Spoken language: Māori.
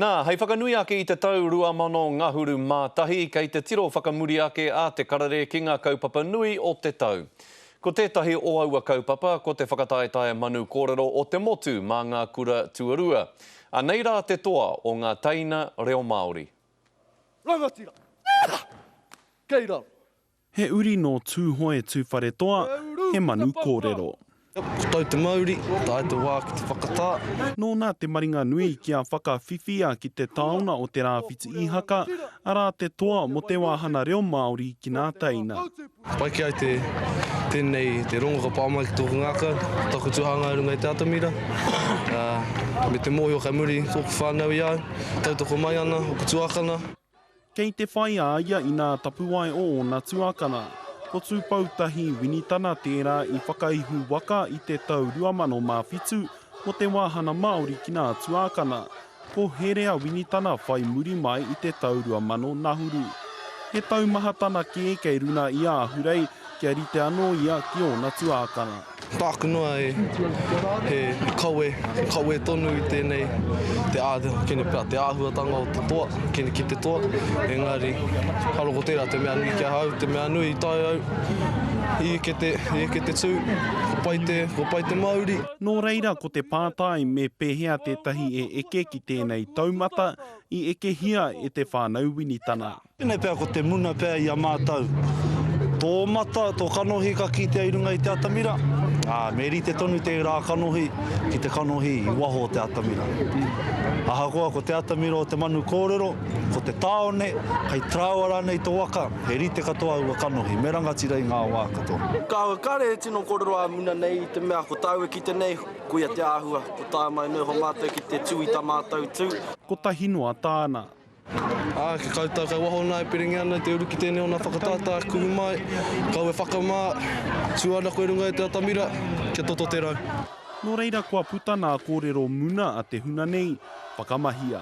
Nā, hei whakanui ake i te tau 2000 ngahuru mā tahi, kei te tiro whakamuri ake a Te Karare ki ngā kaupapa nui o te tau. Ko tētahi o aua kaupapa, ko te whakataetae manu kōrero o te motu mā ngā kura tuarua. Anei rā te toa o ngā teina reo Māori. Rangatira! Kei raro! He uri nō Tūhoe Tūwharetoa, he manu kōrero. Ko tau te mauri, tae te wā ki te whakatā. Nōna te maringa nui kia whakawhiwhia ki te taona o Te Rāwhiti Īhaka, arā te toa mō te wāhana reo Māori ki nā teina. Pai ki ai te, tēnei, te rongo ka pā mai ki tōku ngākau, taku tuhāngai runga i te atamira, ā, me te mōhio kei muri tōku whānau i au, tautoko mai ana ōku tuākana. Kei te whai a ia i nā tapuwae o ōna tuakana. Ko Tūpoutahi Winitana tērā i whakaihu waka i te tau 2007 mō te wāhana Māori ki nā tuākana. Ko Herea Winitana whai muri mai i te tau 2000 Nahuru. He taumahatana kē kei runa i Ahurei kia rite anō ia ki ōna tuākana. Tāku noa e, he kawe, he kawe tonu i tēnei, te āhua, kene pea, te āhuatanga o te toa, kene ki te toa, engari, karo ko tērā te mea nui ki ahau, te mea nui i tae au, i eke te, i eke te tū, kua pai te, kua pai te mauri. Nō reira ko te pātai me pēhea tētahi e eke ki tēnei taumata i ekehia e te whānau Winitana. Tēnei pea ko te muna pea i a mātou. Tō mata, tō kanohi ka kitea i runga i te atamira, ā, me rite tonu tērā kanohi ki te kanohi i waho o te atamira. Ahakoa ko te atamira o te manu kōrero, ko te tāone, hei traoa rānei tō waka, he rite katoa aua kanohi, me rangatira i ngā wā katoa. Kāore, kāore he tino kōrero ā-muna nei i te mea ko tāu e kite nei, koia te āhua, ko tāu mai noho mātou ki te tū i tā mātou tū. Kotahi noa tāna. Ā, ki koutou kei waho nā e perengia ana i te uru ki tēnei o nā whakatata e kuhu mai, kau e whakamā, tuanaku e runga e te atamira, kia toto te rau. Nō reira kua puta nā kōrero muna a te huna nei, whakamahia.